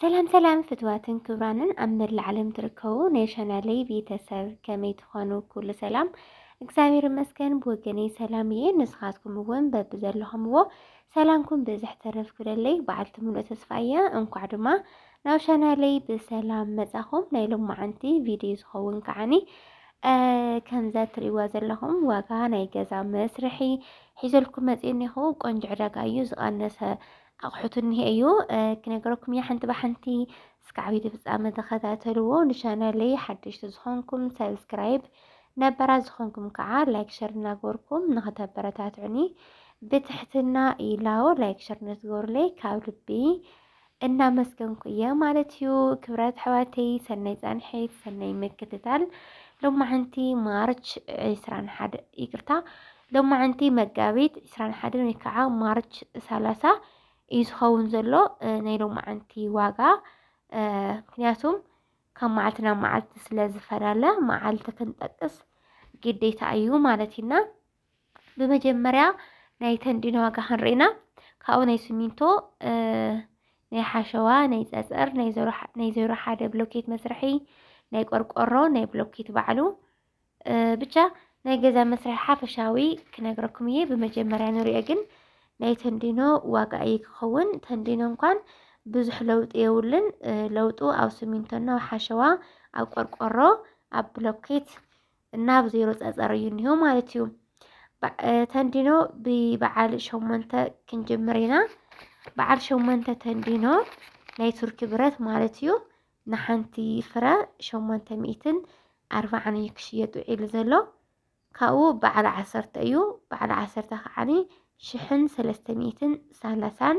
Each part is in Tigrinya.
ሰላም ሰላም ፍትዋትን ክብራንን ኣብ መላእ ዓለም ትርከቡ ናይ ቻናለይ ቤተሰብ ከመይ ትኾኑ? ኩሉ ሰላም እግዚኣብሔር ይመስገን ብወገነይ ሰላም እየ። ንስኻትኩም እውን በብዘለኹምዎ ሰላምኩም ብዝሕ ተረፍ ክብለለይ በዓልቲ ምሉእ ተስፋ እየ። እንኳዕ ድማ ናብ ቻናለይ ብሰላም መጻኹም። ናይ ሎማዓንቲ ቪድዮ ዝኸውን ከዓኒ ከምዛ ትርእይዋ ዘለኹም ዋጋ ናይ ገዛ መስርሒ ሒዘልኩም መፅእ እኒኹ። ቆንጆ ዕዳጋ እዩ ዝቐነሰ ኣቑሑት እኒሄ እዩ ክነገረኩም እያ ሓንቲ ብሓንቲ እስከ ዓብዪ ፍፃመ ተኸታተልዎ ንቻናለይ ሓደሽቲ ዝኾንኩም ሰብስክራይብ ነበራ ዝኾንኩም ከዓ ላይክ ሸር እናገበርኩም ንኸተበረታትዑኒ ብትሕትና ኢላዎ ላይክ ሸር ነትገብሩለይ ካብ ልቢ እናመስገንኩ እየ ማለት እዩ ክብረት ኣሕዋተይ ሰናይ ፃንሒት ሰናይ ምክትታል ሎማዓንቲ ማርች 21 ይቅርታ ሎማዕንቲ መጋቢት ዕስራን ሓደን ወይ ከዓ ማርች ሰላሳ እዩ ዝኸውን ዘሎ ናይ ሎማዕንቲ ዋጋ ምክንያቱም ካብ መዓልቲ ናብ መዓልቲ ስለ ዝፈላለ መዓልቲ ክንጠቅስ ግዴታ እዩ ማለት እዩና ብመጀመርያ ናይ ተንዲኖ ዋጋ ክንርኢና ካብኡ ናይ ስሚንቶ ናይ ሓሸዋ ናይ ፀፀር ናይ ዜሮ ሓደ ብሎኬት መስርሒ ናይ ቆርቆሮ ናይ ብሎኬት ባዕሉ ብቻ ናይ ገዛ መስርሒ ሓፈሻዊ ክነግረኩም እየ ብመጀመርያ ንሪኦ ግን ናይ ተንዲኖ ዋጋ እዩ ክኸውን ተንዲኖ እንኳን ብዙሕ ለውጢ የብሉን ለውጡ ኣብ ስሚንቶና ኣብ ሓሸዋ ኣብ ቆርቆሮ ኣብ ብሎኬት እና ኣብ ዜሮ ፀፀር እዩ እኒሆ ማለት እዩ ተንዲኖ ብበዓል ሸሞንተ ክንጅምር ኢና በዓል ሸሞንተ ተንዲኖ ናይ ቱርኪ ብረት ማለት እዩ ንሓንቲ ፍረ ሸሞንተ ሚእትን ኣርባዓን እዩ ክሽየጥ ውዒሉ ዘሎ ካብኡ በዓል ዓሰርተ እዩ በዓል ዓሰርተ ከዓኒ ሽሕን ሰለስተ ሚእትን ሰላሳን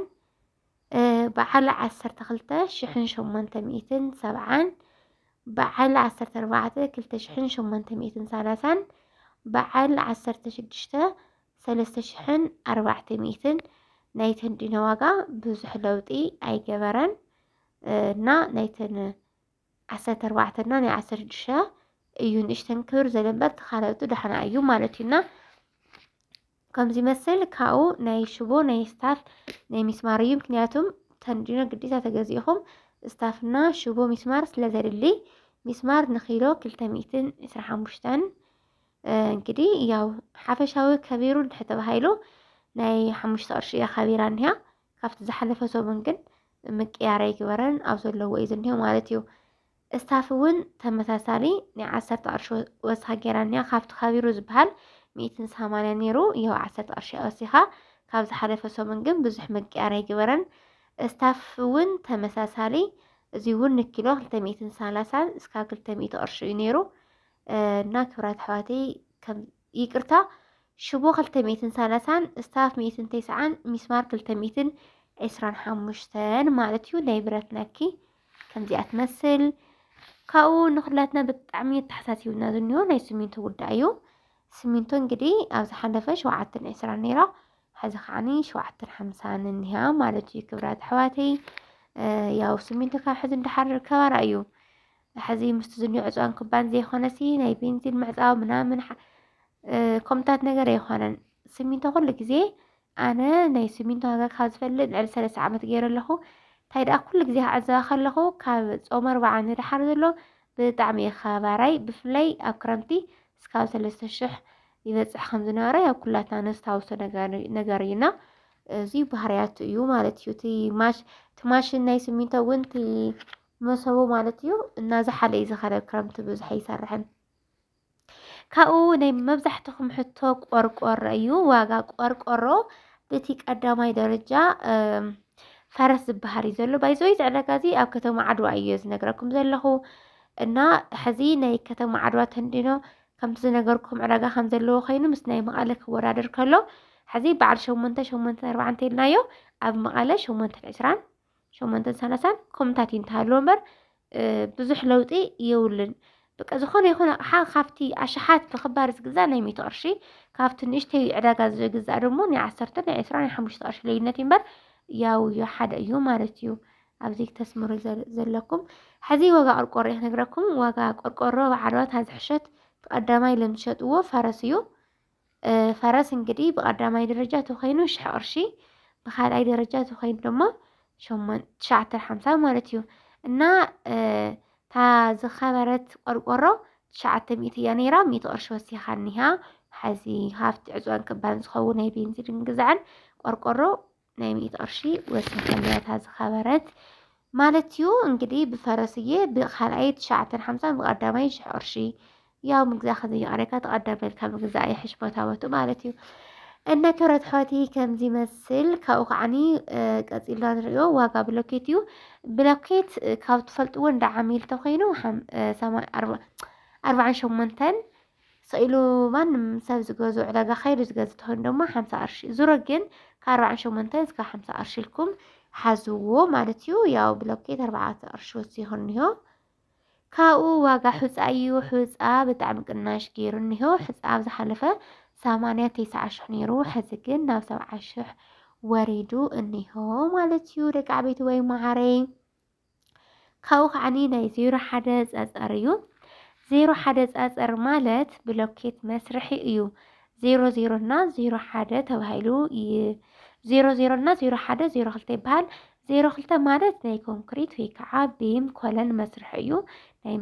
በዓል ዓሰርተ ክልተ ሽሕን ሸሞንተ ሚእትን ሰብዓን በዓል ዓሰርተ ኣርባዕተ ክልተ ሽሕን ሸሞንተ ሚእትን ሰላሳን በዓል ዓሰርተ ሽዱሽተ ሰለስተ ሽሕን ኣርባዕተ ሚእትን ናይ ተንዲኖ ዋጋ ብዙሕ ለውጢ ኣይገበረን እና ናይተን ዓሰርተ ኣርባዕተ እና ናይ ዓሰርተ ሽዱሽተ እዩ ንእሽተን ክብር ዘሎ እምበር እቲ ካልኦቱ ዳሕና እዩ ማለት እዩ እና ከምዚ መስል ካብኡ ናይ ሽቦ ናይ ስታፍ ናይ ሚስማር እዩ ምክንያቱም ተንዲኖ ግዴታ ተገዚእኹም ስታፍና ሽቦ ሚስማር ስለ ዘድሊ ሚስማር ንኪሎ ክልተ ሚእትን ዕስራ ሓሙሽተን እንግዲህ ያው ሓፈሻዊ ከቢሩ እንድሕር ተባሂሉ ናይ ሓሙሽተ ቅርሺ እያ ከቢራ እኒሃ ካብቲ ዝሓለፈ ሰሙን ግን ምቅያር ኣይግበረን ኣብ ዘለዎ እዩ ዝኒሆ ማለት እዩ። እስታፍ እውን ተመሳሳሊ ናይ ዓሰርተ ቅርሺ ወስኻ ገይራ እኒኣ ካብቲ ከቢሩ ዝበሃል ሚእትን ሰማንያ ነይሩ ይኸው ዓሰርተ ቅርሺ ወሲኻ ካብ ዝሓለፈ ሰሙን ግን ብዙሕ ምቅያር ኣይግበረን። እስታፍ እውን ተመሳሳሊ እዚ እውን ንኪሎ ክልተ ሚእትን ሰላሳን እስካብ ክልተ ሚእቲ ቅርሺ እዩ ነይሩ እና ክብራት ኣሕዋተይ ከም ይቅርታ ሽቦ ክልተ ሚእትን ሰላሳን ስታፍ ሚእትን ተስዓን ሚስማር ክልተ ሚእትን ዕስራን ሓሙሽተን ማለት እዩ ናይ ብረት ነኪ ከምዚኣ ትመስል ካብኡ ንኩላትና ብጣዕሚ የተሓሳሲብና ዝኒሆ ናይ ስሚንቶ ጉዳይ እዩ ስሚንቶ እንግዲህ ኣብ ዝሓለፈ ሸውዓተን ዕስራን ነይራ ሕዚ ከዓኒ ሸውዓተን ሓምሳን እኒሃ ማለት እዩ ክብራት ኣሕዋተይ ያው ስሚንቶ ካብ ሕዚ እንዳሓር ከባራ እዩ ሕዚ ምስቲ ዝኒኦ ዕፅዋን ክባን ዘይኮነሲ ናይ ቤንዚን ምዕፃው ምናምን ከምታት ነገር ኣይኮነን ስሚንቶ ኩሉ ግዜ ኣነ ናይ ስሚንቶ ዋጋ ካብ ዝፈልጥ ልዕሊ ሰለስተ ዓመት ገይረ ኣለኹ እንታይ ደኣ ኩሉ ግዜ ክዕዘባ ከለኹ ካብ ፆመ ኣርባዓ ንደሓር ዘሎ ብጣዕሚ እዩ ከባራይ ብፍላይ ኣብ ክረምቲ እስካብ ሰለስተ ሽሕ ይበፅሕ ከም ዝነበረ ያው ኩላትና ነስታውሶ ነገር እዩና እዚ ባህርያቱ እዩ ማለት እዩ እቲ ማሽ እቲ ማሽን ናይ ስሚንቶ እውን እቲ መሰቡ ማለት እዩ እናዝሓለ እዩ ዝኸረብ ክረምቲ ብዙሕ ኣይሰርሕን። ካብኡ ናይ መብዛሕትኹም ሕቶ ቆርቆሮ እዩ። ዋጋ ቆርቆሮ በቲ ቀዳማይ ደረጃ ፈረስ ዝበሃል እዩ ዘሎ ባይዘወይ ዝዕዳጋ እዚ ኣብ ከተማ ዓድዋ እዩ ዝነግረኩም ዘለኹ እና ሕዚ ናይ ከተማ ዓድዋ ተንዲኖ ከምቲ ዝነገርኩም ዕዳጋ ከም ዘለዎ ኮይኑ ምስ ናይ መቐለ ክወዳደር ከሎ ሕዚ በዓል ሸሞንተ ሸሞንተ ኣርባዕተ ኢልናዮ ኣብ መቐለ ሸሞንተን ዕስራን ሸሞንተን ሰላሳን ኮምታት እዩ እንተሃለዎ እምበር ብዙሕ ለውጢ የብሉን። በቃ ዝኾነ ይኹን ኣቕሓ ካብቲ ኣሽሓት ብክባር ዝግዛእ ናይ ሚእቲ ቅርሺ ካብቲ ንእሽተይ ዕዳጋ ዝግዛእ ደሞ ናይ ዓሰርተ ናይ ዕስራ ናይ ሓሙሽተ ቅርሺ ልዩነት እዩ እምበር ያው እዩ ሓደ እዩ ማለት እዩ። ኣብዚ ተስምሩ ዘለኩም ሕዚ ዋጋ ቆርቆሮ እየ ክነግረኩም። ዋጋ ቆርቆሮ ኣብ ዓድዋ ታዝሕሸት ቀዳማይ ለምሸጥዎ ፈረስ እዩ። ፈረስ እንግዲህ ብቀዳማይ ደረጃ ተኮይኑ ሽሕ ቅርሺ ብካልኣይ ደረጃ ተኮይኑ ድማ ሸሞን ትሽዓተ ሓምሳ ማለት እዩ እና እታ ዝኸበረት ቆርቆሮ ትሽዓተ ሚእቲ እያ ነይራ ሚእቲ ቅርሺ ወሲኻኒሃ ሓዚ ሃፍቲ ዕፅዋን ክባን ዝኸውን ናይ ቤንዚንን ግዛዕን ቆርቆሮ ናይ ሚእቲ ቅርሺ ወሲኸለያ እታ ዝኸበረት ማለት እዩ እንግዲህ ብፈረስዬ ብካልኣይ ትሽዓተን ሓምሳን ብቀዳማይ ሽሕ ቅርሺ ያው ምግዛ ከዘይቀረካ ተቀዳሚ ልካ ምግዛ ይሕሽ ቦታ ቦቱ ማለት እዩ እነ ክብረት ሕወቲ ከምዚ መስል ካብኡ ከዓኒ ቀፂልና ንሪኦ ዋጋ ብሎኬት እዩ ብሎኬት ካብ ትፈልጥዎ እንዳ ዓሚል ተኮይኑ ኣርባዓን ሸሞንተን ሰኢሉ ማንም ሰብ ዝገዝኦ ዕዳጋ ከይዱ ዝገዝእ ተኾይኑ ድማ ሓምሳ ቅርሺ ዙሮ ግን ካብ ኣርባዓን ሸሞንተን እስካብ ሓምሳ ቅርሺ ኢልኩም ሓዝዎ ማለት እዩ። ያው ብሎኬት ኣርባዕተ ቅርሺ ወሲኹ እኒሆ ካብኡ ዋጋ ሑፃ እዩ። ሑፃ ብጣዕሚ ቅናሽ ገይሩ እኒሆ ሕፃ ኣብ ዝሓለፈ ሰማንያ ተስዓ ሽሕ ነይሩ ሕዚ ግን ናብ ሰብዓ ሽሕ ወሪዱ እኒሆ ማለት እዩ። ደቂ ዓበይቲ ወይ መዓረይ ካብኡ ከዓኒ ናይ ዜሮ ሓደ ፀፀር እዩ ዜሮ ሓደ ፀፀር ማለት ብሎኬት መስርሒ እዩ ዜሮ ዜሮ እና ዜሮ ሓደ ተባሂሉ ዜሮ ዜሮ እና ዜሮ ሓደ ዜሮ ክልተ ይበሃል ዜሮ ክልተ ማለት ናይ ኮንክሪት ወይ ከዓ ቢም ኮለን መስርሒ እዩ ናይ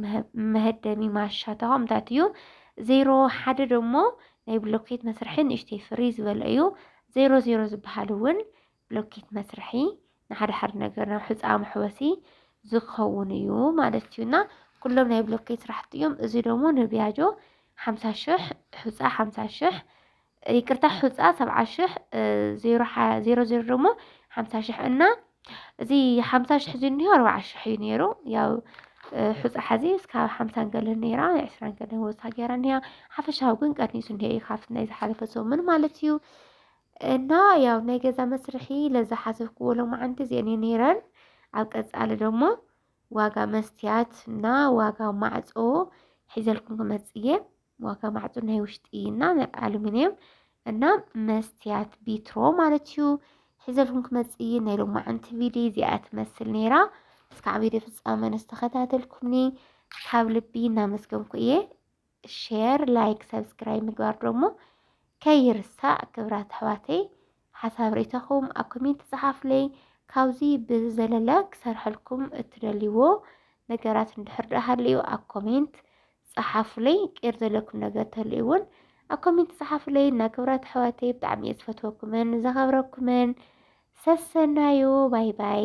መሀደሚ ማሻ ተቋምታት እዩ ዜሮ ሓደ ደሞ ናይ ብሎኬት መስርሒ ንእሽተይ ፍሪ ዝበለ እዩ ዜሮ ዜሮ ዝበሃል እውን ብሎኬት መስርሒ ንሓደ ሓደ ነገር ናብ ሕፃ መሕወሲ ዝኸውን እዩ ማለት እዩ እና ኩሎም ናይ ብሎኬት ስራሕቲ እዮም። እዚ ደግሞ ንቢያጆ ሓምሳ ሽሕ ሕፃ ሓምሳ ሽሕ ይቅርታ ሕፃ ሰብዓ ሽሕ ዜሮ ሓ- ዜሮ ዜሮ ደግሞ ሓምሳ ሽሕ እና እዚ ሓምሳ ሽሕ እዚ እኒሆ ኣርባዓ ሽሕ እዩ ነይሩ ያው እ፣ ሕፃ ሓዚ እስካብ ሓምሳን ገለን ነይራ ናይ ዕስራን ገለን ወሳ ገይራ እኒኣ ሓፈሻዊ ግን ቀኒሱ እኒሀ እዩ ካብቲ ናይ ዝሓለፈ ሰሙን ማለት እዩ እና ያው ናይ ገዛ መስርሒ ለዝሓሰብክዎ ሎማዓንቲ እዚኤን እየ ነይረን ኣብ ቀፃሊ ደሞ ዋጋ መስትያት እና ዋጋ ማዕፆ ሒዘልኩም ክመፅእ እየ ዋጋ ማዕፆ ናይ ውሽጢ እና ናይ ኣሉሚንየም እና መስትያት ቢትሮ ማለት እዩ ሒዘልኩም ክመፅእ እየ ናይ ሎማዓንቲ ቪድዮ እዚኣ ትመስል ነይራ እስካዕ ቪድዮ ፍፃመ ንዝተኸታተልኩምኒ ካብ ልቢ እናመስገንኩ እየ ሼር ላይክ ሰብስክራይብ ምግባር ደሞ ከይርሳእ ክብራት ኣሕዋተይ ሓሳብ ርእቶኹም ኣብ ኮሜንት ጸሓፉለይ ካብዚ ብዘለለ ክሰርሐልኩም እትደልይዎ ነገራት እንድሕር ደኣ ሃልዩ ኣብ ኮሜንት ጸሓፉለይ ቅር ዘለኩም ነገር ተልዩ እውን ኣብ ኮሜንት ጸሓፉለይ እና ክብራት ኣሕዋተይ ብጣዕሚ እየ ዝፈትወኩምን ዘኸብረኩምን ሰሰናዩ ባይ ባይ